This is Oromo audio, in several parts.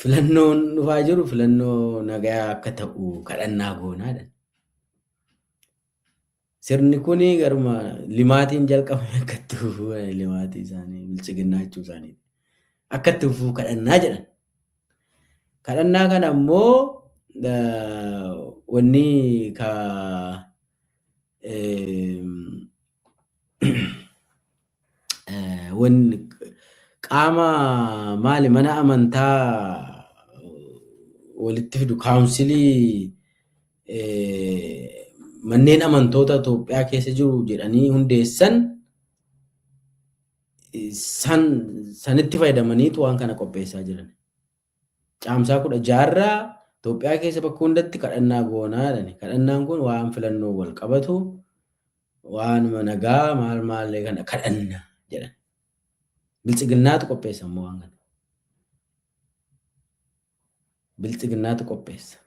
filannoon dhufaa jiru filannoo nagayaa akka ta'u kadhannaa goonaadha. Sirni kun garuma limaatiin jalqabame akka itti fufuu limaatii isaanii bilchiginnaa jechuu isaanii akka itti fufuu kadhannaa jedhan. Kadhannaa kana immoo wanni ka wan qaama maali mana amantaa walitti fidu kaawunsilii manneen amantoota Itoophiyaa keessa jiru jedhanii hundeessan san sanitti fayyadamaniitu waan kana qopheessaa jiran. Caamsaa 16 irraa Itoophiyaa keessa bakka hundatti kadhannaa goonaa jedhani. Kadhannaan kun waan filannoo wal qabatu waanuma nagaa maal maallee kana kadhanna jedhan. Biltsiginnaatu qopheessa immoo waan kana. Biltsiginnaatu qopheessa.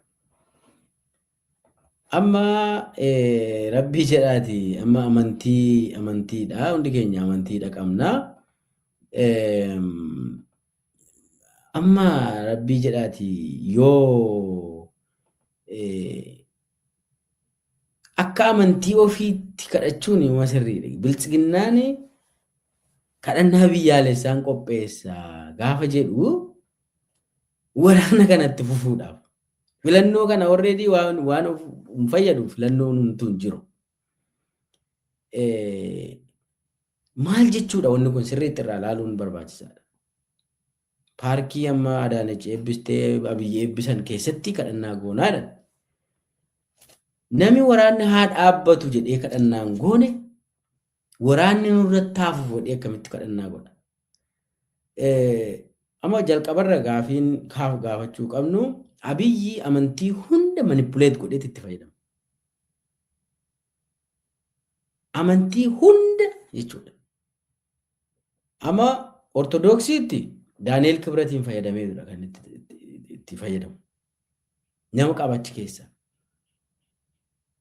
Amma eh, rabbii jedhaati amma amantii amantiidha hundi keenya amantiidha qabna. Eem, Amma rabbii jedhaati yoo eh, akka amantii ofiitti kadhachuun nama sirriidha. Biltsiginnaan kadhannaa biyyaalessaan qopheessa gaafa jedhu waraana kanatti fufuudhaaf. Filannoo kana already waan, waan of hin fayyadu filannoon hunduu hin jiru. Maal jechuudha wanni kun sirriitti irraa ilaaluun barbaachisaadha. Paarkii amma Adaanach eebbistee Abiyyi eebbisan keessatti kadhannaa goonaadha. Nami waraanni haa dhaabbatu jedhee kadhannaan goone waraanni nurratti haa fufu jedhee akkamitti kadhannaa godha. Amma jalqabarra gaafiin kaaf gaafachuu qabnu Abiyyi amantii hunda manipuleet godheet itti fayyadama. amantii hunda jechuudha. Amma Ortodoksiitti Daani'eel Kibratiin fayyadamee jira kan itti fayyadamu. Nama qabachi keessa.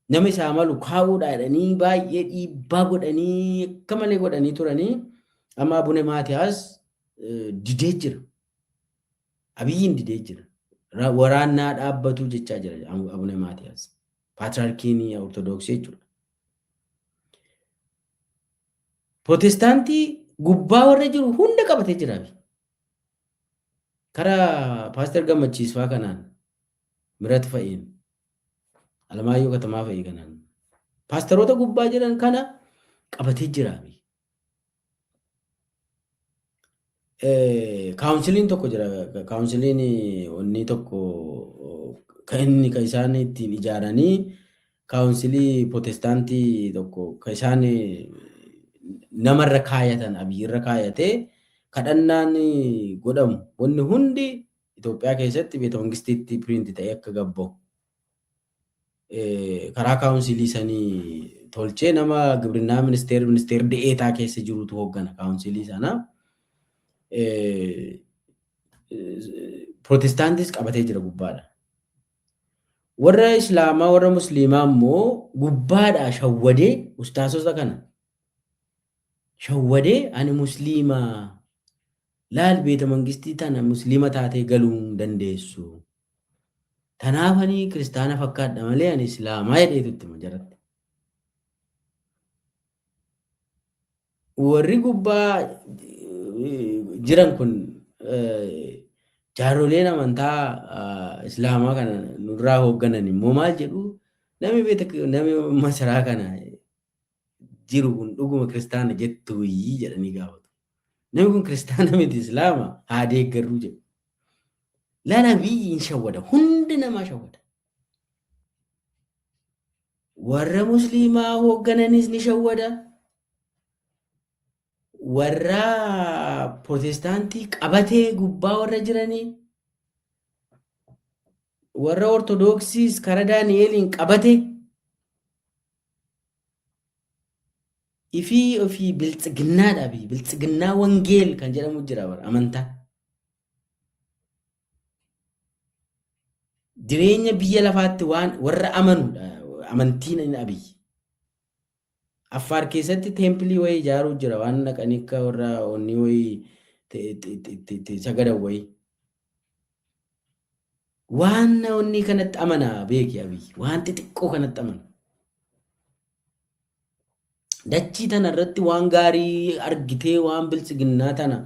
Nama isaa malu kaa'uudha jedhanii baay'ee dhiibbaa godhanii akka malee godhanii turanii amma Abune Maatiyaas didee jira. Abiyyiin didee jira. Waraannaa dhaabbatuu jechaa jira Abune Maatiyaas. Paatriyaarkiin Ortodoksii jechuudha. Protestaantii gubbaa warra jiru hunda qabatee jira. Karaa Paaster Gammachiisfaa kanaan Mirat fa'iin Alamaayyoo Katamaa fa'ii kanaan paasteroota gubbaa jiran kana qabatee jira. Kaawunsiliin tokko jira. Kaawunsiliin onnii tokko kan inni kan isaan ittiin ijaaranii kaawunsilii protestaantii tokko kan isaan namarra kaayatan abiyyirra kaayatee kadhannaan godhamu wanni hundi Itoophiyaa keessatti beeta mangistiitti piriinti ta'ee akka gabbahu. karaa kaawunsilii sanii tolchee nama gibrinnaa ministeer ministeer de'eetaa keessa jirutu hooggana kaawunsilii sana. Pirootestaantis qabatee jira gubbaadha. Warra Islaamaa warra Musliimaa immoo gubbaadhaa shawwadee ustaasota kana shawwadee ani Musliimaa Laal beeta mangistii tana muslima taatee galuu hin dandeessu. Tanaaf ani kiristaana fakkaadha malee ani islaamaa jedheetu itti hima jaratti. Warri gubbaa jiran kun jaarroleen amantaa islaamaa kana nurraa hoogganan immoo maal jedhu nami beeta nami masaraa kana jiru kun dhuguma kiristaana jettuuyii jedhanii gaafatu. Namni kun kiristaana miti islaama haa deeggarruu jedhu. Laala biyyi hin shawwada hundi namaa shawwada. Warra musliimaa hooggananis ni shawwada. Warra protestaantii qabatee gubbaa warra jiranii warra ortodoksiis karaa Daani'eeliin qabate Ifii ofii biltsiginnaa dhabi. Biltsiginnaa wangeel kan jedhamu jira bara amantaa. Jireenya biyya lafaatti waan warra amanudha amantiin inni abiy. Affaar keessatti teempilii wayii ijaaruu jira waan dhaqanii akka warra onnii wayii te- te- te- te- te- sagadan wayii. Waan onnii kanatti amana beeki Abiy. Waan xixiqqoo kanatti amana. Dachii tana irratti waan gaarii argitee waan biltsiginnaa tana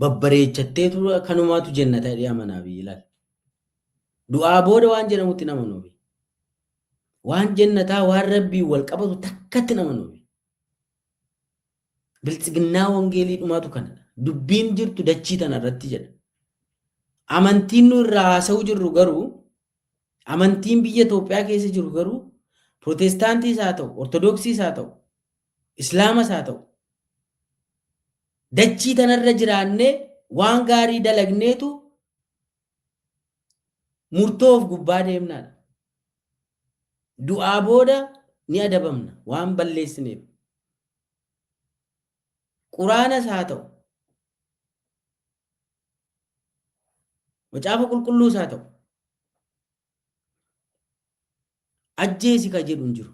babbareechattee ture kanumaatu jenna ta'ee amana Abiy ilaali. Du'aa booda waan jedhamutti hin amanu Abiy. Waan jennataa waan rabbiin wal qabatu takkatti hin amanu Abiy. Biltsiginnaa wangeelii dhumaatu kana. Dubbiin jirtu dachii tana irratti jedha. Amantiin nu irraa haasa'uu jirru garuu amantiin biyya Itoophiyaa keessa jiru garuu Pirootestaantiis haa ta'u, Ortodoksiis haa ta'u, Islaamas haa ta'u dachii tanarra jiraannee waan gaarii dalagneetu Murtoo of gubbaa deemnaadha. Du'aa booda ni adabamna waan balleessineef. Quraanas haa ta'u, macaafa qulqulluus haa ta'u, ajjeesi ka jedhu hin jiru.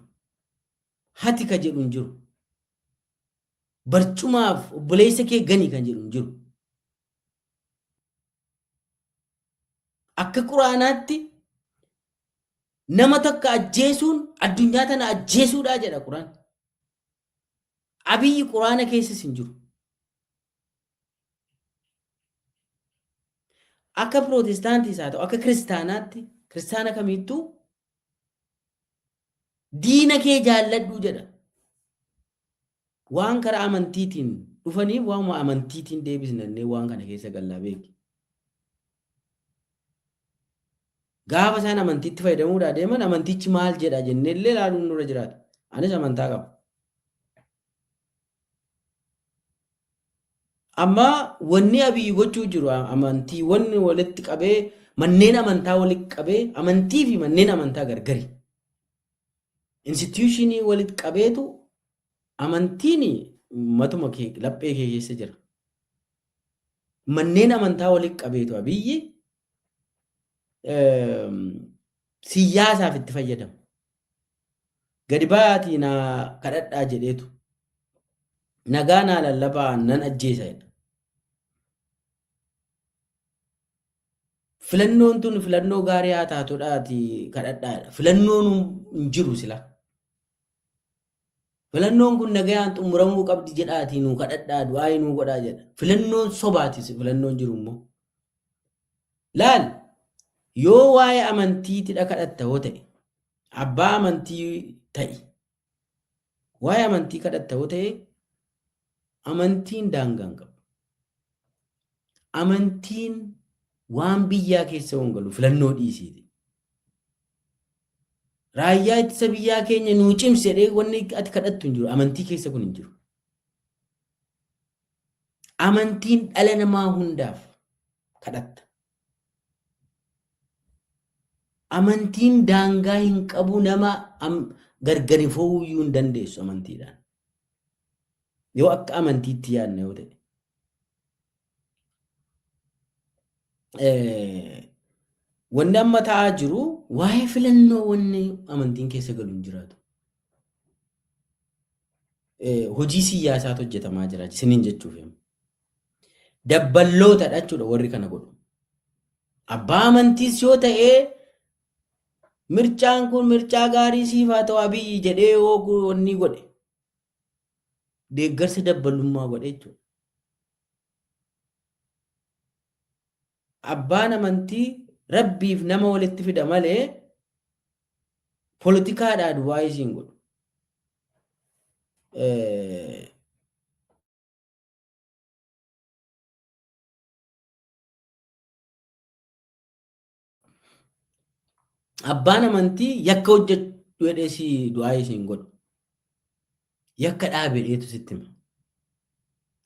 Hati ka jedhu hin jiru. Barcumaaf obboleessa kee gani kan jedhu hin jiru. Akka Quraanaatti nama takka ajjeesuun addunyaa tana ajjeesuudhaa jedha Quraan. Abiyyi Quraana keessas hin jiru. Akka Pirootestaantiis haa ta'u akka kiristaanaatti kiristaana kamiittuu Diina kee jaalladhu jedha. Waan karaa amantiitiin dhufaniif waanuma amantiitiin deebisnannee waan kana keessa gallaa beeki. Gaafa isaan amantiitti fayyadamuudhaa deeman amantichi maal jedha jennee illee ilaaluun nurra jiraata. Anis amantaa qaba. Amma wanni Abiy gochuu jiru amantiiwwan walitti qabee manneen amantaa walitti qabee amantii fi manneen amantaa gargari. Instituushinii walitti qabeetu amantiin matuma kee laphee kee keessa jira. Manneen amantaa walitti qabeetu Abiyyi siyyaasaaf itti fayyadamu. Gadi ba'aatii na kadhadhaa jedheetu nagaa naa lallabaa nan ajjeesa jedha. Filannoon tun filannoo gaarii haa taatudhaati kadhadhaadha. Filannoon hin jiru sila. Filannoon kun nagayaan xumuramuu qabdi jedhaatii nuu kadhadhaa du'aa'ii nuu godhaa jedha. Filannoon sobaatis filannoon jiru immoo. Laal yoo waa'ee amantiitidha kadhatta hoo ta'e abbaa amantii ta'i. Waa'ee amantii kadhatta hoo ta'e Amantiin daangaa hin qabu. Amantiin waan biyyaa keessa hin galu filannoo dhiisiiti. Raayyaa ittisa biyyaa keenya nuu cimsi jedhee wanni ati kadhattu hin jiru. Amantii keessa kun hin jiru. Amantiin dhala namaa hundaaf kadhatta. Amantiin daangaa hin qabu nama am- gargari fo'uu iyyuu hin dandeessu amantiidhaan. Yoo akka amantiitti yaadna yoo ta'e. Wanni amma ta'aa jiru waa'ee filannoo wanni amantiin keessa galu hin jiraatu. Hojii siyaasaatu hojjetamaa jira isiniin jechuuf. Dabballootadha jechuudha warri kana godhu. Abbaa amantiis yoo ta'e Mircaan kun mircaa gaarii siif haa ta'u Abiyyi jedhee yoo onnii godhe deeggarsa dabbalummaa godhe jechuudha. Abbaan amantii rabbiif nama walitti fida malee politikaadhaa duwwaa isiin godhu. Abbaan amantii yakka hojjedhu jedhee si du'aa isiin godhu. Yakka dhaabe dheetu sitti hima.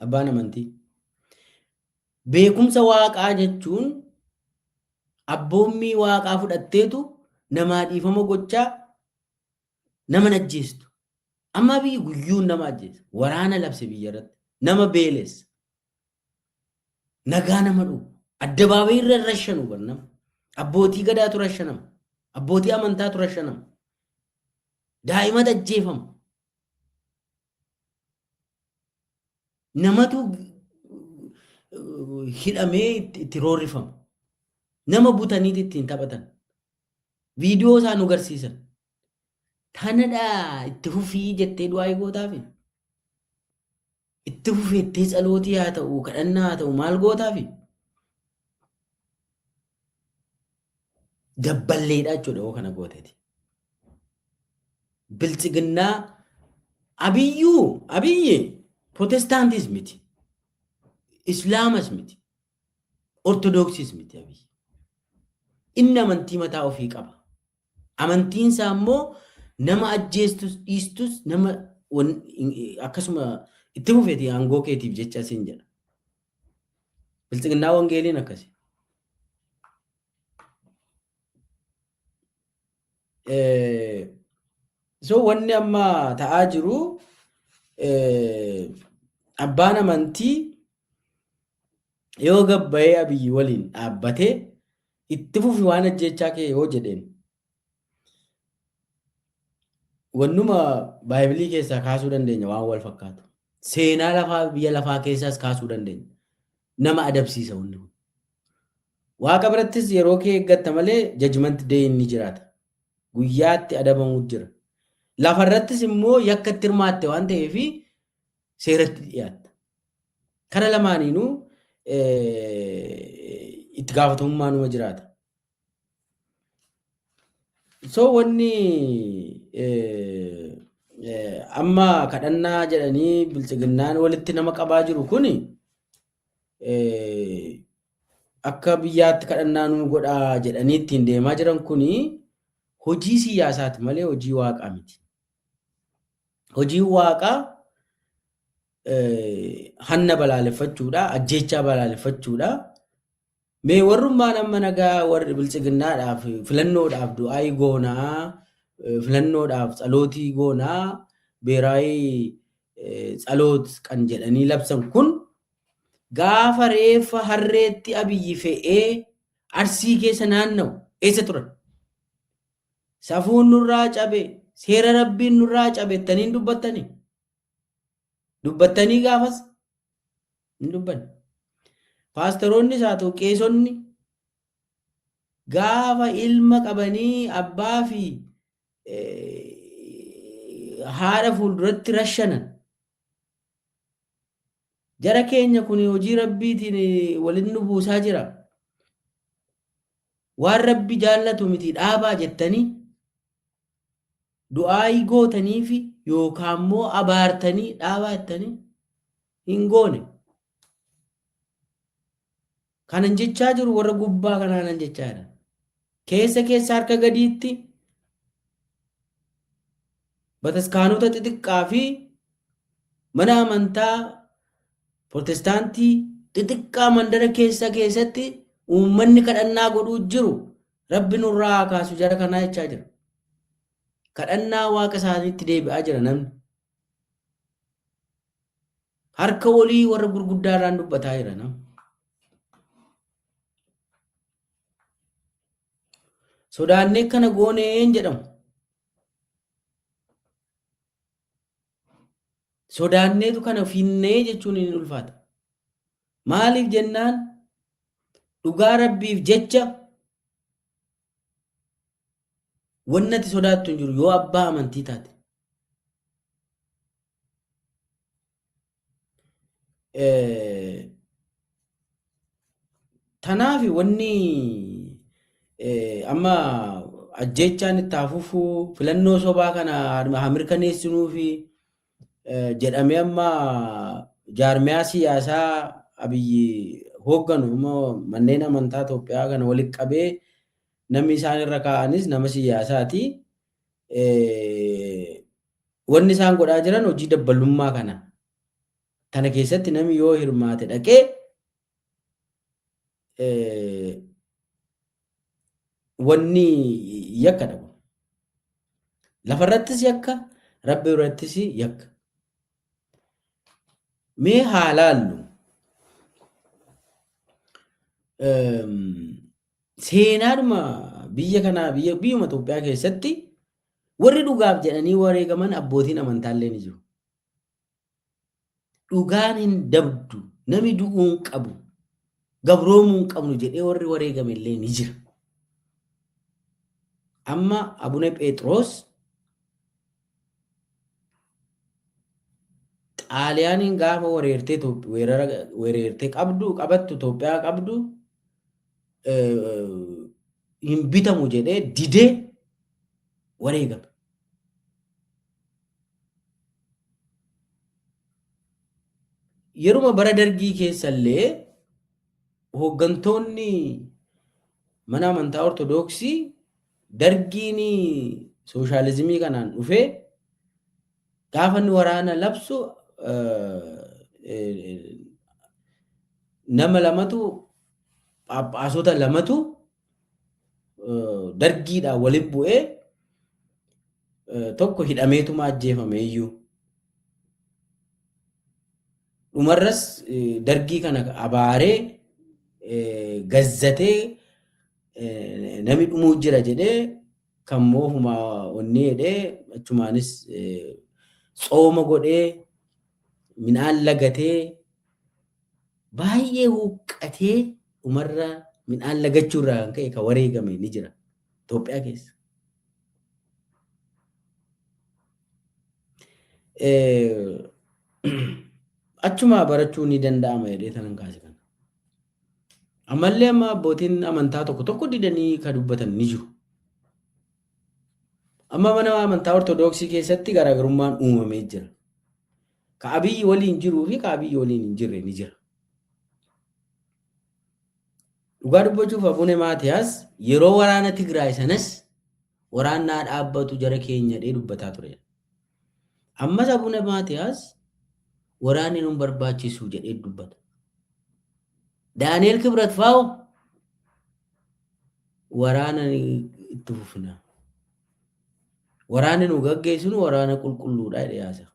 Abbaan amantii. Beekumsa waaqaa jechuun abboommii waaqaa fudhatteetu namaa dhiifama gochaa nama ajjeestu. Amma biyyi guyyuun nama ajjeesa. Waraana labse biyya irratti. Nama beelessa. Nagaa nama dhowwu. Addabaabayii irra rashanu bar nama. Abbootii gadaatu rashanama. Abbootii amantaatu rashanama. Daa'imatu ajjeefama. Namatu eh, hidhamee itti itti roorrifama. Nama butaniiti ittiin taphatan. Viidiyoo isaa nu garsiisan. Tanadha itti fufii jettee du'aa'ii gootaafi? Itti fufii jettee tsalootii haa ta'u, kadhannaa haa ta'u maal gootaafi? Dabballeedha jechuudha yoo kana gooteeti. Biltsiginnaa abiyyuu abiyyi protestaantis miti. Islaamas miti. Ortodooksis miti abiyyi. Inni amantii mataa ofii qaba. Amantiin isaa immoo nama ajjeestus dhiistus nama akkasuma itti fufeeti aangoo keetiif jecha siin jedha. Bilxiginnaa wangeeliin akkasi. So wanni amma ta'aa jiru abbaan amantii yoo gabbayee abiyyi waliin dhaabbatee Itti fufi waan ajjeechaa kee yoo jedheen wannuma baaybilii keessaa kaasuu dandeenya waan wal fakkaatu. Seenaa lafaa biyya lafaa keessaas kaasuu dandeenya. Nama adabsiisa wanni kun. Waaqa birattis yeroo kee eeggatta malee jajmanti deeyin ni jiraata. Guyyaatti adabamuu jira. Lafarrattis immoo yakka itti hirmaatte waan ta'eef seeratti dhiyaatta. Kana lamaaniinuu itti gaafatamummaa numa jiraata. So wanni amma kadhannaa jedhanii bilxiginnaan walitti nama qabaa jiru kun akka biyyaatti kadhannaa nuu godhaa jedhanii ittiin deemaa jiran kun hojii siyaasaati malee hojii waaqaa miti. Hojiin waaqaa hanna balaaleffachuudha, ajjeechaa balaaleffachuudha. Mee warrummaan amma nagaa warri biltsiginnaadhaaf filannoodhaaf du'aayii goonaa, filannoodhaaf tsalootii goonaa, beeraayii tsaloot kan jedhanii labsan kun gaafa reeffa harreetti abiyyi fe'ee arsii keessa naanna'u eessa turan? Safuun nurraa cabe, seera rabbiin nurraa cabe jettanii hin dubbattanii? Dubbattanii gaafas hin dubbanne. Paastaroonnis haa ta'u qeesonni gaafa ilma qabanii abbaa fi haadha fuulduratti rashanan. Jara keenya kun hojii rabbiitiin walitti nu buusaa jira. Waan rabbi jaallatu miti dhaabaa jettanii Du'aa'ii gootaniifi yookaan immoo abaartanii dhaabaa jettanii hin goone. Kanan jechaa jiru warra gubbaa kanaanan jechaa jira. Keessa keessa harka gadiitti bataskaanota xixiqqaa fi mana amantaa protestaantii xixiqqaa mandara keessa keessatti uummanni kadhannaa godhuu jiru Rabbi nurraa haa kaasu jara kanaa jechaa jira. Kadhannaa waaqa isaaniitti deebi'aa jira namni. Harka walii warra gurguddaa irraan dubbataa jira namni. Sodaannee kana gooneen jedhamu. Sodaanneetu kana finnee jechuun hin ulfaata. Maaliif jennaan dhugaa rabbiif jecha wannati sodaattu hin jiru yoo abbaa amantii taate. Tanaaf wanni amma ajjeechaan itti haa fufuu filannoo sobaa kana haa mirkaneessinuu fi jedhamee amma jaarmiyaa siyaasaa abiyyi hoogganu immoo manneen amantaa Itoophiyaa kana walitti qabee namni isaan irra kaa'anis nama siyaasaati. Wanni isaan godhaa jiran hojii dabbalummaa kana. Kana keessatti namni yoo hirmaate dhaqee wanni yakka dhabu. Lafarrattis yakka, rabbi irrattis yakka. Mee haa laallu. Seenaadhuma biyya kanaa biyya biyyuma Itoophiyaa keessatti warri dhugaaf jedhanii wareegaman abbootiin amantaallee ni jiru. dhugaan hin dabdu nami du'uu hin qabu gabroomuu hin qabnu jedhee warri wareegame illee ni jira. Amma Abune Pheexroos Xaaliyaaniin gaafa wareertee Itoophi- weerara wareertee qabdu qabattu Itoophiyaa qabdu eh, hin bitamu jedhee didee wareegame. Yeruma bara dargii keessallee hooggantoonni mana amantaa ortodoksii dargiin sooshaalizimii kanaan dhufee gaafa inni waraana labsu nama lamatu phaaphaasota lamatu dargiidhaan waliin bu'ee tokko hidhameetuma ajjeefame iyyuu. Dhumarras dargii kana abaaree gazzatee namni dhumuu jira jedhee kan moohumaa onnee jedhee achumaanis tsooma godhee midhaan lagatee baay'ee huqqatee dhumarra midhaan lagachuu irraa kan ka'e kan wareegame ni jira Itoophiyaa keessa. Achumaa barachuu ni danda'ama jedhee tanan kaase kana. Ammallee amma abbootiin amantaa tokko tokko didanii kan dubbatan ni jiru. Amma mana amantaa Ortoodooksii keessatti garaagarummaan uumamee jira. Ka Abiy waliin jiruu fi ka Abiy waliin hin jirre ni jira. Dhugaa dubbachuuf Abune Maatiyaas yeroo waraana Tigraay sanas waraanni haa dhaabbatu jara keenya jedhee dubbataa ture. Ammas Abune Maatiyaas waraanni nun barbaachisu jedhee dubbata. Daani'el Kibrat faa'u waraana ni itti fufina. Waraanni nu gaggeessinu waraana qulqulluudha jedhee haasa'a.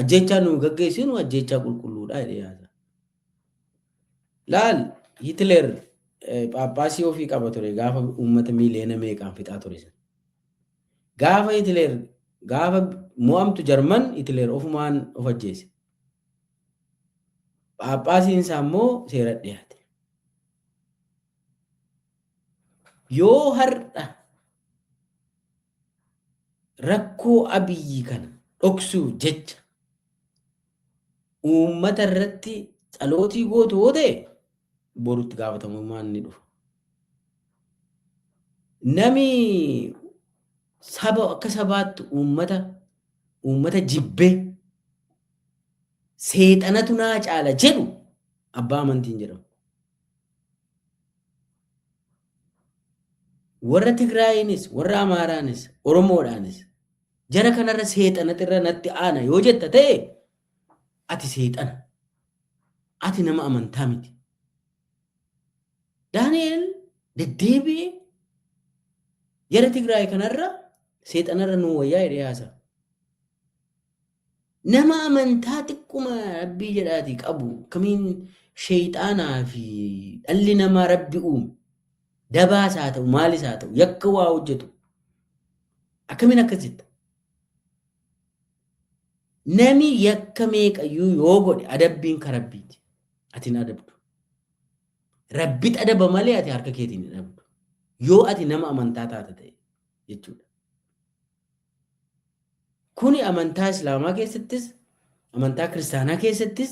Ajjeechaan nuyi gaggeessinu ajjeechaa qulqulluudha jedhee yaada. Laal Hitler phaaphaasii ofii qaba ture gaafa uummata miiliyoona meeqaan fixaa ture sana. Gaafa Hitler gaafa mo'amtu Jarman Hitler ofumaan of ajjeese. Phaaphaasiin isaa immoo seera dhiyaate. Yoo har'a Rakkoo Abiy kana dhoksuuf jecha uummata irratti tsalootii gootu yoo ta'e boru itti gaafatamummaan ni dhufa. Nami saba akka sabaatti uummata uummata jibbee seexanatu naa caala jedhu abbaa amantiin jedhamu. Warra Tigraayiinis, warra Amaaraanis, Oromoodhaanis jara kanarra seexanatu irra natti aana yoo jetta ta'e ati seexana. Ati nama amantaa miti. Daani'eel deddeebi'ee jara Tigraay kanarra seexanarra nuu wayyaa jedhee haasa'a. Nama amantaa xiqquma rabbii jedhaati qabu akkamiin sheeyxaanaa fi dhalli namaa rabbi uume dabaas haa ta'u maalis haa ta'u yakka waa hojjetu akkamiin akkas jetta. Nami yakka meeqayyuu yoo godhe adabbiin ka rabbiiti. Ati hin adabdu. Rabbit adaba malee ati harka keetiin hin adabdu. Yoo ati nama amantaa taate ta'e jechuudha. Kuni amantaa Islaamaa keessattis, amantaa Kiristaanaa keessattis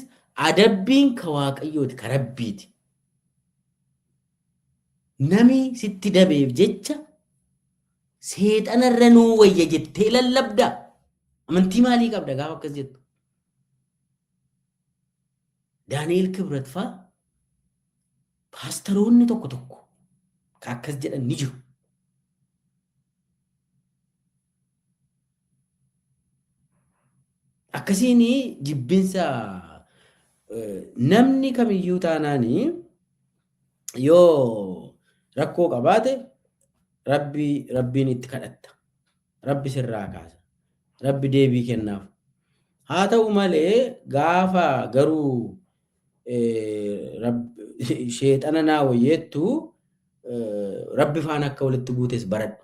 adabbiin ka Waaqayyooti, ka Rabbiiti. Nami sitti dabeef jecha seexanarra nuu wayya jettee lallabda. Amantii maalii qabda gaafa akkas jettu? Daani'el Kibrat faa Paastaroonni tokko tokko ka akkas jedhan ni jiru. Akkasiin jibbinsa namni kamiyyuu taanaan yoo rakkoo qabaate rabbii rabbiin itti kadhatta. Rabbi sirraa kaasa. Rabbi deebii kennaaf. Haa ta'u malee gaafa garuu Sheexana naa wayyeettu rabbi faana akka walitti buutes baradhu.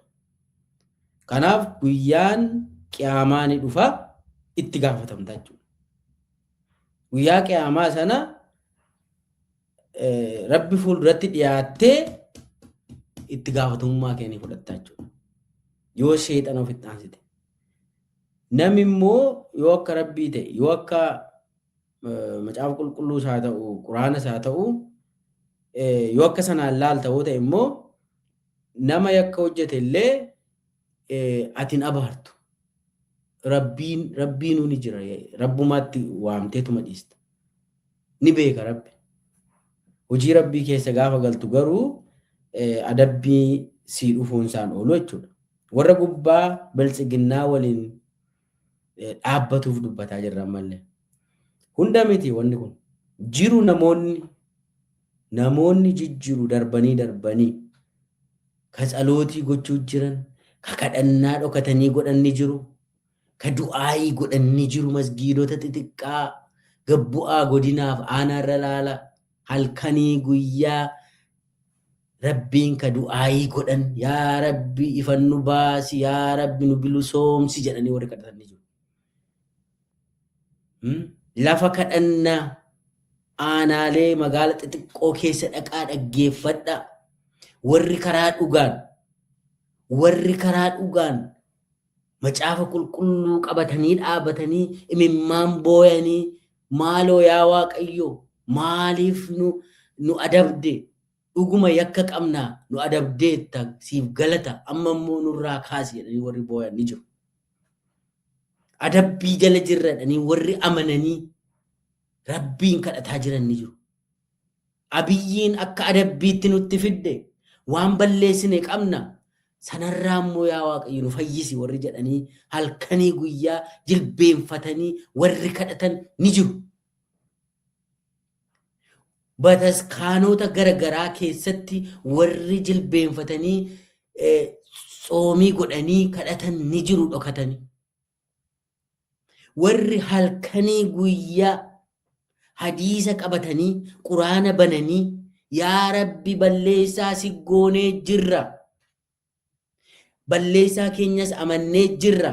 Kanaaf guyyaan qiyaamaa ni dhufa itti gaafatamta jechuudha. Guyyaa qiyaamaa sana rabbi fuulduratti dhiyaattee itti gaafatamummaa kee ni fudhatta jechuudha. Yoo sheexana ofitti aansite. Namni immoo yoo akka rabbii ta'e yoo akka macaafa qulqulluus haa ta'u quraanas haa ta'u yoo akka sanaan laalta yoo ta'e immoo nama yakka hojjete illee ati hin abaartu. Rabbiin rabbiinuu ni jira rabbumaatti waamteetuma dhiista. Ni beeka rabbi. Hojii rabbii keessa gaafa galtu garuu adabbii sii dhufuun isaan oolu jechuudha. Warra gubbaa biltsiginnaa waliin dhaabbatuuf dubbataa jirra ammallee. Hunda miti wanni kun. Jiru namoonni namoonni jijjiru darbanii darbanii ka tsalootii gochuu jiran, ka kadhannaa dhokatanii godhan ni jiru, ka du'aayii godhan ni jiru masgiidota xixiqqaa gabbu'aa godinaaf aanaarra laala halkanii guyyaa Rabbiin ka du'aayii godhan yaa rabbi ifan nu baasi yaa rabbi nu bilusoomsi jedhanii warri kadhatan ni jiru. Hmm? Lafa kadhannaa aanaalee magaala xixiqqoo keessa dhaqaa dhaggeeffadhaa. Warri karaa dhugaan warri karaa dhugaan macaafa qulqulluu qabatanii dhaabatanii imimmaan booyanii maaloo yaa waaqayyo maaliif nu nu adabde Dhuguma yakka qabna, nu adabdeetta, siif galata, amma immoo nurraa kaasi jedhanii warri booyan ni jiru. Adabbii jala jirra jedhanii warri amananii Rabbiin kadhataa jiran ni jiru. Abiyyiin akka adabbiitti nutti fidde waan balleessine qabna sanarraa immoo yaa waaqayyo nu fayyisi warri jedhanii halkanii guyyaa jilbeenfatanii warri kadhatan ni jiru. bataskaanota gara garaa keessatti warri jilbeenfatanii eh, tsoomii godhanii kadhatan ni jiru dhokatanii. Warri halkanii guyyaa hadiisa qabatanii quraana bananii yaa rabbi balleessaa si goonee jirra. Balleessaa keenyas amannee jirra.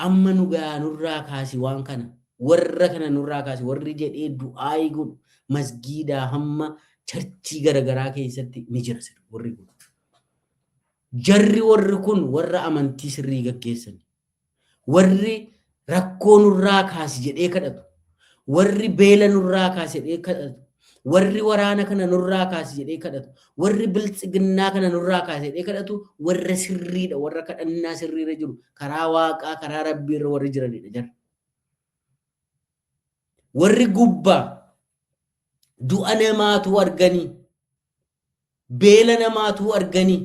Amma nu gayaa nurraa kaasi waan kana. Warra kana nurraa kaasi. Warri jedhee du'aa'ii godhu masgiidaa hamma charchii garagaraa keessatti ni jira sirri warri kun. Jarri warri kun warra amantii sirrii gaggeessan. Warri rakkoo nurraa kaasi jedhee kadhatu. Warri beela nurraa kaasi jedhee kadhatu. Warri waraana kana nurraa kaasi jedhee kadhatu. Warri biltsiginnaa kana nurraa kaasi jedhee kadhatu warra sirriidha. Warra kadhannaa sirriirra jiru. Karaa waaqaa, karaa rabbiirra warri jiranidha jarri. Warri gubbaa du'a namaatuu arganii, beela namaatuu arganii,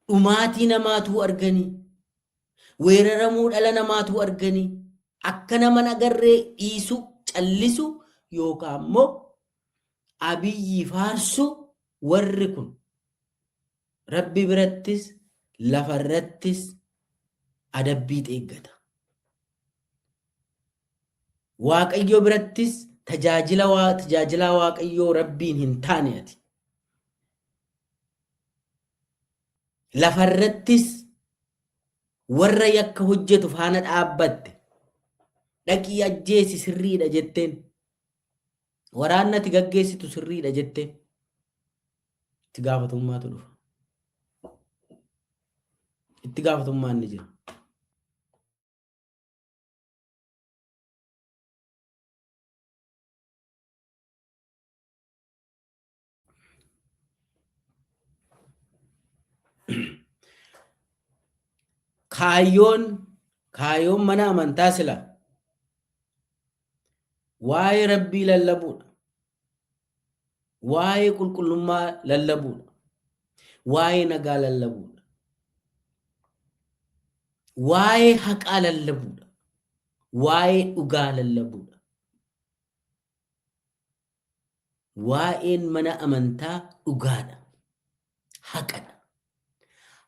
Dhumaatii namaatuu arganii. Weeraramuu dhala namaatuu arganii. Akka nama hin agarree dhiisuu, callisuu yookaan immoo Abiyyi faarsuu warri kun Rabbi birattis lafarrattis adabbiit eeggata. Waaqayyo birattis tajaajila waa tajaajilaa Waaqayyoo Rabbiin hin taane ati. Lafa irrattis warra yakka hojjetu faana dhaabbatte dhaqii ajjeesi sirriidha jetteen. Waraanni ati gaggeessitu sirriidha jetteen. Itti gaafatamummaatu dhufa. Itti gaafatamummaan ni jira. Kaayyoon kaayyoon mana amantaa sila waa'ee rabbii lallabuudha. Waa'ee qulqullummaa lallabuudha. Waa'ee nagaa lallabuudha. Waa'ee haqaa lallabuudha. Waa'ee dhugaa lallabuudha. Waa'een mana amantaa dhugaadha. Haqadha.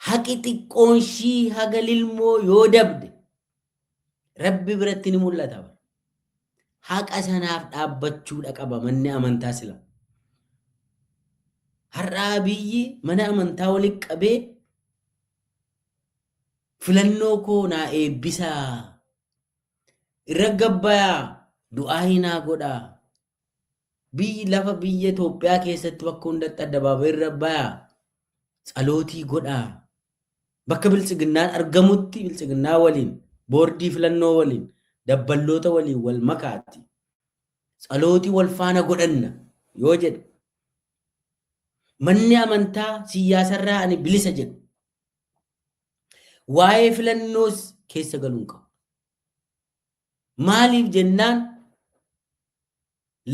Haqi xiqqoonshii haga lilmoo yoo dabde Rabbi biratti ni mul'ata. Haqa sanaaf dhaabbachuudha qaba manni amantaa sila. Har'aa biyyi mana amantaa walitti qabee filannoo koo naa eebbisaa irra gabbayaa du'aayii naa godhaa biyyi lafa biyya Itoophiyaa keessatti bakka hundatti addabaabayii irra bayaa tsalootii godhaa bakka biltsiginnaan argamutti biltsiginnaa waliin boordii filannoo waliin dabballoota waliin wal makaatti tsalootii wal faana godhanna yoo jedhe manni amantaa siyyaasarraa ani bilisa jedhu Waa'ee filannoos keessa galuu hin qabu. Maaliif jennaan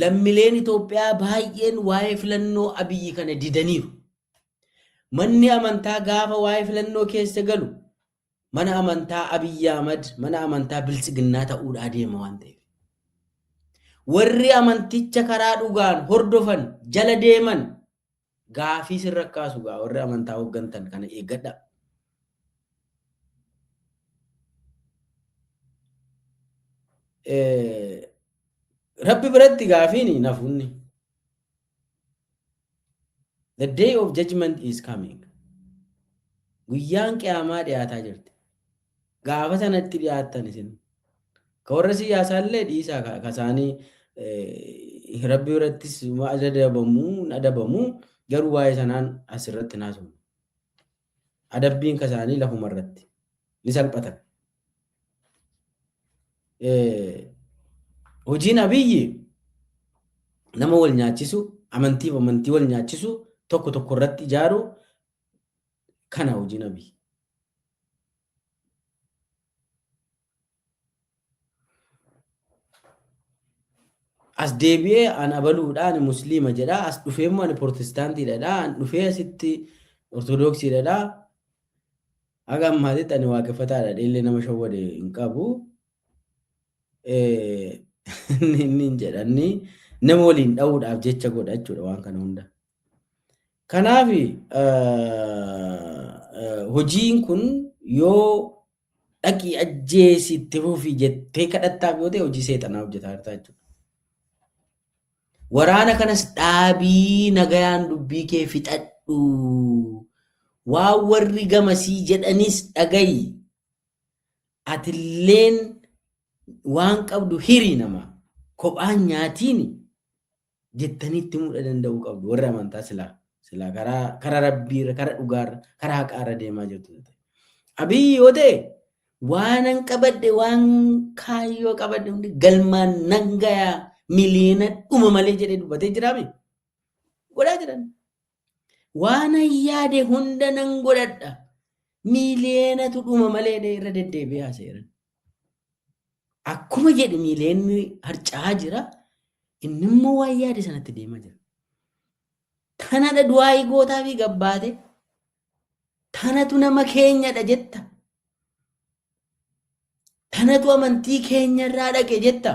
lammileen Itoophiyaa baay'een waa'ee filannoo abiyyi kana didaniiru. Manni amantaa gaafa waa'ee filannoo keessa galu mana amantaa Abiyyi Ahmad mana amantaa biltsiginnaa ta'uudhaa deema waan ta'eef. Warri amanticha karaa dhugaan hordofan jala deeman Gaafii sirra kaasu gaa warri amantaa hoggantan kana eeggadha. Rabbi biratti gaafiin nafunni. The day of judgment is coming. Guyyaan qiyaamaa dhiyaataa jirti. Gaafa sanatti dhiyaattan isin. Ka warra siyaasaa illee dhiisaa ka ka isaanii eh, rabbi birattis ma adabamu hin adabamu garuu waa'ee sanaan as irratti hin haasofnu. Adabbiin ka isaanii lafuma irratti ni salphatan. Eh, Hojiin abiyyi nama wal nyaachisu amantiif amantii wal nyaachisu tokko tokko irratti ijaaru kana hojiin abiyyi. as deebi'ee an abaluudha ani musliima jedha as dhufee immoo ani protestaantiidha an dhufee asitti ortodoksiidha haga ammaatitti ani waaqeffataadha illee nama shawwade hin qabu Eh, inni hin jedhanni nama waliin dha'uudhaaf jecha godha jechuudha waan kana hunda Kanaaf hojiin kun yoo dhaqii ajjeesi itti fufi jettee kadhattaaf yoo ta'e hojii seexanaa hojjetaa jirta jechuudha. Waraana kanas dhaabii nagayaan dubbii kee fixadhu. Waan warri gamasii jedhanis dhagayi. Atilleen waan qabdu hiri nama. Kophaan nyaatiin jettanii itti muudha danda'uu qabdu warri amantaa silaa silaa karaa karaa rabbiirra karaa dhugaarra karaa haqaarra deemaa jirtu yoo ta'e. Abiyyi yoo ta'e waanan qabadhe waan kaayyoo qabadhe hundi galmaan nan gayaa miliyoona dhuma malee jedhee dubbatee jiraame godhaa jiran. Waanan yaade hunda nan godhadha. Miiliyeenatu dhuma malee dhee irra deddeebi'ee haasa'eera. Akkuma jedhu miiliyeenni harca'aa jira. Inni immoo waan yaade sanatti deemaa jira. Tanadha du'aa'ii gootaa fi gabbaate. Tanatu nama keenyadha jetta. Tanatu amantii keenyarraa dhaqe jetta.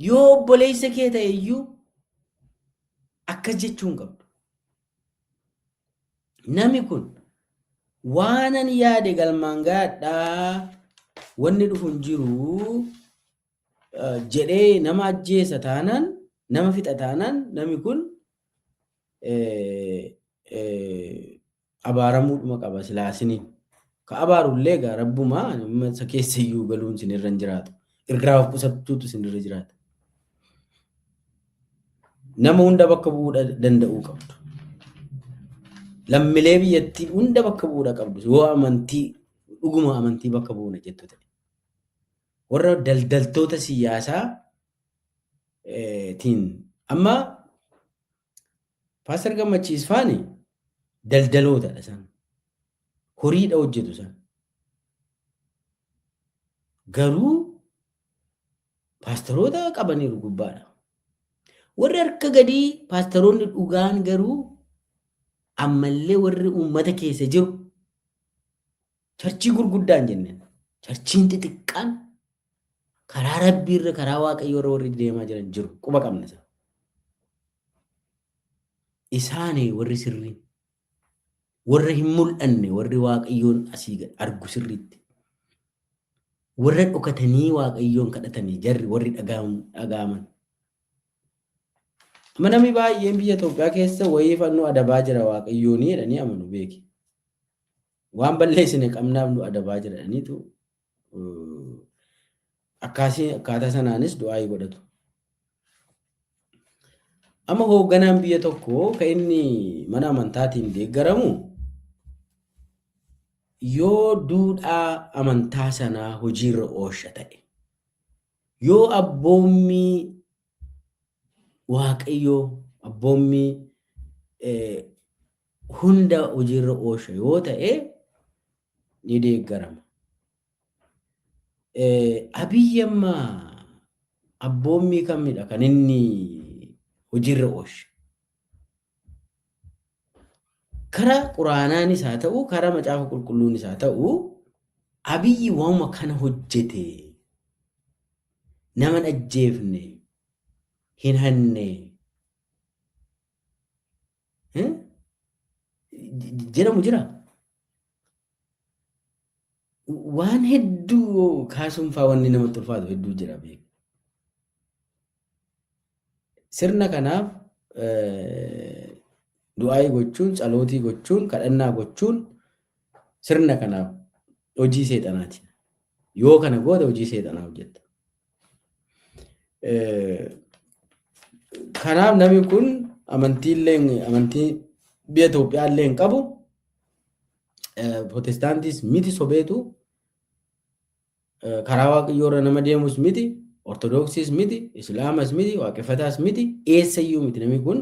Yoo obboleessa kee ta'e iyyuu akkas jechuu hin qabdu. Nami kun waanan yaade galmaan gaadhaa wanni dhufu hin jiru eh, jedhee nama ajjeesa taanaan nama fixa taanaan nami kun eh, eh, abaaramuudhuma qaba silaa isiniin ka abaaru illee egaa rabbuma ani amma isa keessa iyyuu galuun isin irra hin jiraatu irraa of qusachuutu isin irra jiraata nama hunda bakka bu'uu dha- danda'uu qabdu lammilee biyyattii hunda bakka bu'uudha qabdu yoo amantii dhuguma amantii bakka bu'uuna jettu ta'e warra daldaltoota siyaasaa eh, tiin amma Paaster Gammachiis faani daldalootadha isaan. Horiidha hojjetu isaan. Garuu paastaroota qabaniiru gubbaadha. Warri harka gadii paastaroonni dhugaan garuu ammallee warri uummata keessa jiru Charchii gurguddaa hin jenne. Charchiin xixiqqaan karaa rabbii irra karaa waaqayyoo irra warri deemaa jiran jiru. Quba qabna isa. Isaani warri sirrii. Warra hin mul'anne warri waaqayyoon asii gad argu sirriitti. Warra dhokatanii waaqayyoon kadhatanii jarri warri dhagaa'amu- dhagaa'aman. Amma namni baay'een biyya Itoophiyaa keessa wayii fannoo adabaa jira waaqayyoonii jedhanii amanu beeki. Waan balleessine qabnaaf nu adabaa jedhaniitu akkaasii akkaataa sanaanis du'aayii godhatu. Amma hoogganaan biyya tokko kan inni mana amantaatiin deeggaramu yoo duudhaa amantaa sanaa hojiirra oolcha ta'e, yoo abboommii Waaqayyo abboommii hunda hojiirra oolcha yoo ta'e ni deeggarama. Abiyyi amma abboommii kamidha kan inni hojiirra oolche? Kara quraanaanis haa ta'u, kara macaafa qulqulluunis haa ta'u, abiyyi waanuma kana hojjete. Nama hin ajjeefne, hin hanne. Eh? Jedhamu jira. Waan hedduu kaasuun faa wanni namatti ulfaatu hedduu jira beeku. Sirna kanaaf du'aayii gochuun, tsalootii gochuun, kadhannaa gochuun sirna kanaaf hojii seexanaati. Yoo kana goote hojii seexanaa hojjetta. Kanaaf namni kun amantiillee amantii biyya Itoophiyaa illee hin qabu. Protestaantiis miti sobeetu. Karaa waaqayyoo irra nama deemus miti. Ortodoksiis miti. Islaamas miti. Waaqeffataas miti. Eessayyuu miti namni kun.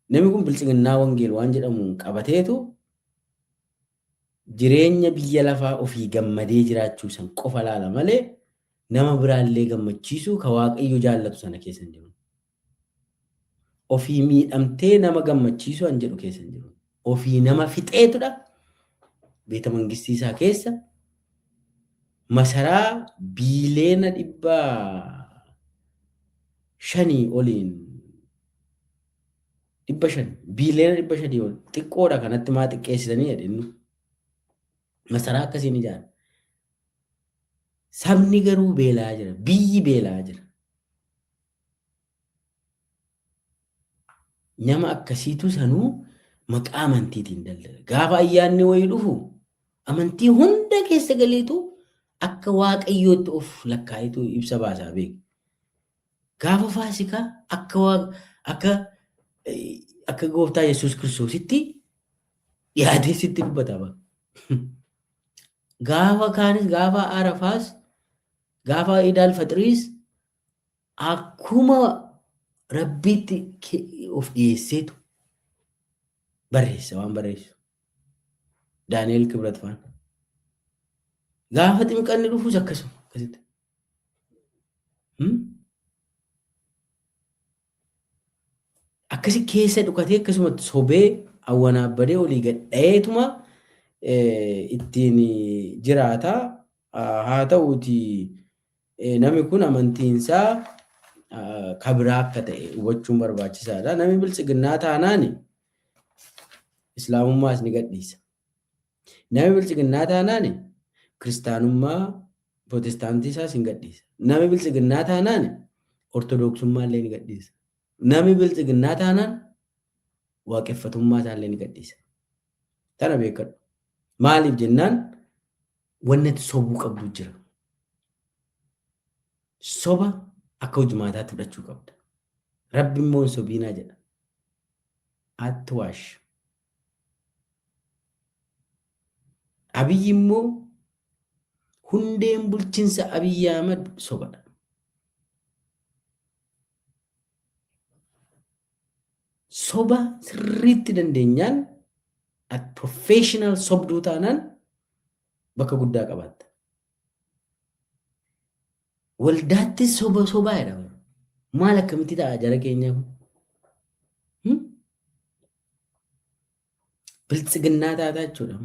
Namni kun biltsiginnaa wangeel waan jedhamuun qabateetu Jireenya biyya lafaa ofii gammadee jiraachuu san qofa laala malee nama biraa illee gammachiisuu ka Waaqayyo jaallatu sana keessa hin jiru. Ofii miidhamtee nama gammachiisuu an jedhu keessa hin jiru. Ofii nama fixeetudha beeta mangistii isaa keessa masaraa biileena dhibba shanii oliin dhibba shan biiliyoona dhibba shanii ol xiqqoodha kanatti maa xiqqeessitanii jedhennu masaraa akkasiin ijaara. Sabni garuu beelaa jira biyyi beelaa jira. Nama akkasiitu sanuu maqaa amantiitiin daldala. Gaafa ayyaanni wayii dhufu amantii hunda keessa galeetu akka waaqayyootti of lakkaa'etu ibsa baasaa beeku. Gaafa faasikaa akka waa akka akka gooftaa Yesuus Kiristoositti dhiyaatee sitti dubbatama. Gaafa kaanis gaafa Arafaas gaafa Idaal Faxiriis akkuma rabbiitti of dhiyeesseetu barreessa waan barreessu. Daani'eel Kibrat faan. Gaafa ximqanni dhufus akkasuma akkasitti. akkasi keessa dhukatee akkasumatti sobee awwanaabbadee olii gad dhayeetuma ittiin jiraata. Haa ta'uuti namni kun amantiinsaa kabiraa akka ta'e hubachuun barbaachisaadha. Namni biltsiginnaa taanaan islaamummaas ni gadhiisa. Nami biltsiginnaa taanaan kiristaanummaa Pirootestaantii isaas hin gadhiisa. Nami biltsiginnaa taanaan Ortodoksummaa illee ni gadhiisa. Nami biltsiginnaa taanaan waaqeffatummaa isaa illee ni gadhiisa. Tana beekadhu. Maaliif jennaan wanni ati sobuu qabdu jira. Soba akka hojmaataatti fudhachuu qabda. Rabbi immoo hin sobiinaa jedha. Atwash. Abiy immoo hundeen bulchinsa Abiy Ahmed sobadha. Soba sirriitti dandeenyaan at professional sobduu taanaan bakka guddaa qabaatta. Waldaattis soba sobaa jedha bara. Maal akkamitti ta'a jara keenyaa kun? Hmm? Biltsiginnaa taataa jechuudha.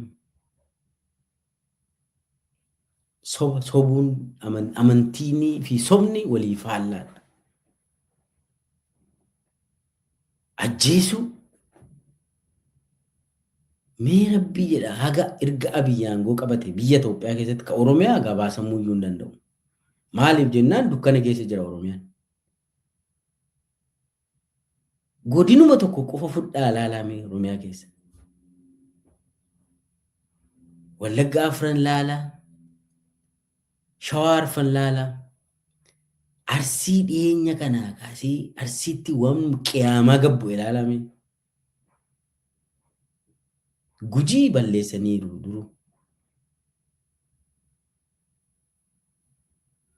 Soba sobuun aman- amantiinii fi sobni walii faallaadha. Ajjeesuu? Mee rabbii jedha haga erga abiyyi aangoo qabate biyya Itoophiyaa keessatti ka Oromiyaa gabaasamuu iyyuu hin danda'u. Maaliif jennaan dukkana keessa jira Oromiyaan. Godinuma tokko qofa fudhaa ilaalaa mee Oromiyaa keessa. Wallagga afran laalaa, Shawaa Arfan laalaa. Arsii dhiyeenya kanaa kaasee Arsiitti waan qiyaamaa gad bu'e ilaalaa mee. Gujii balleessaniiru duruu.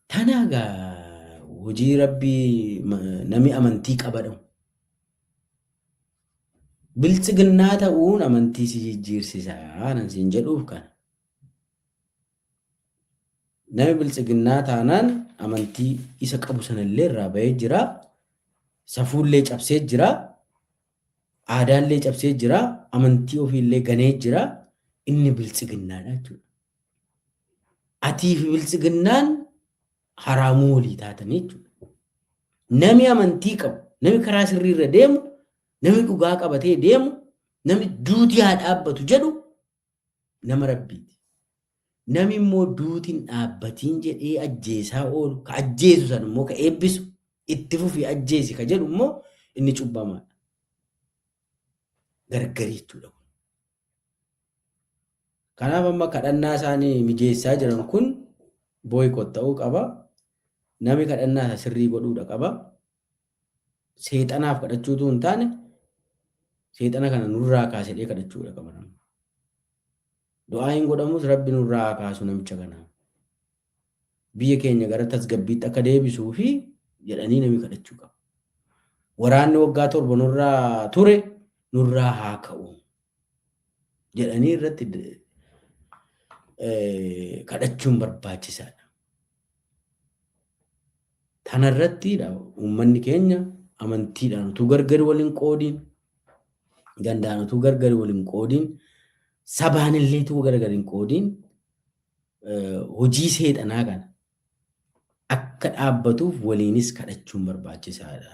Tanaa gaa hojii rabbii ma- namni amantii qabadhu. Biltsiginnaa ta'uun amantii si jijjiirsisa anan siin jedhuuf kana. Nami biltsiginnaa taanaan amantii isa qabu sanallee irraa bahee jira. Safuullee cabsee jira. Aadaallee cabsee jira. Amantii ofiillee ganee jira. Inni biltsiginnaadha jechuudha. Atii fi biltsiginnaan haraamuu walii taatanii jechuudha. Nami amantii qabu, nami karaa sirrii irra deemu, nami dhugaa qabatee deemu, nami duuti haa dhaabbatu jedhu nama Rabbiiti. Nami immoo duuti hin dhaabbatiin jedhee ajjeesaa oolu, ka ajjeesu san immoo ka eebbisu, itti fufii ajjeesi ka jedhu immoo inni cubbamaadha. Gargari jechuudha. Kanaaf amma kadhannaa isaanii mijeessaa jiran kun booyikoot ta'uu qaba. Nami kadhannaa isaa sirrii godhuudha qaba. seexanaaf kadhachuu utuu hin taane seexana kana nurraa kaasedhee kadhachuudha kan baramu. Du'aa hin godhamus rabbi nurraa haa kaasu namicha kana. Biyya keenya gara tasgabbiitti akka deebisuu fi jedhanii namni kadhachuu qaba. Waraanni waggaa torba nurraa ture nurraa haa ka'u. jedhanii irratti kadhachuun barbaachisaadha. Tanarrattiidha uummanni keenya amantiidhaan utuu gargar waliin qoodiin gandaan utuu gargar waliin qoodiin sabaan illee utuu gargar hin qoodiin hojii seexanaa kana akka dhaabbatuuf waliinis kadhachuun barbaachisaadha.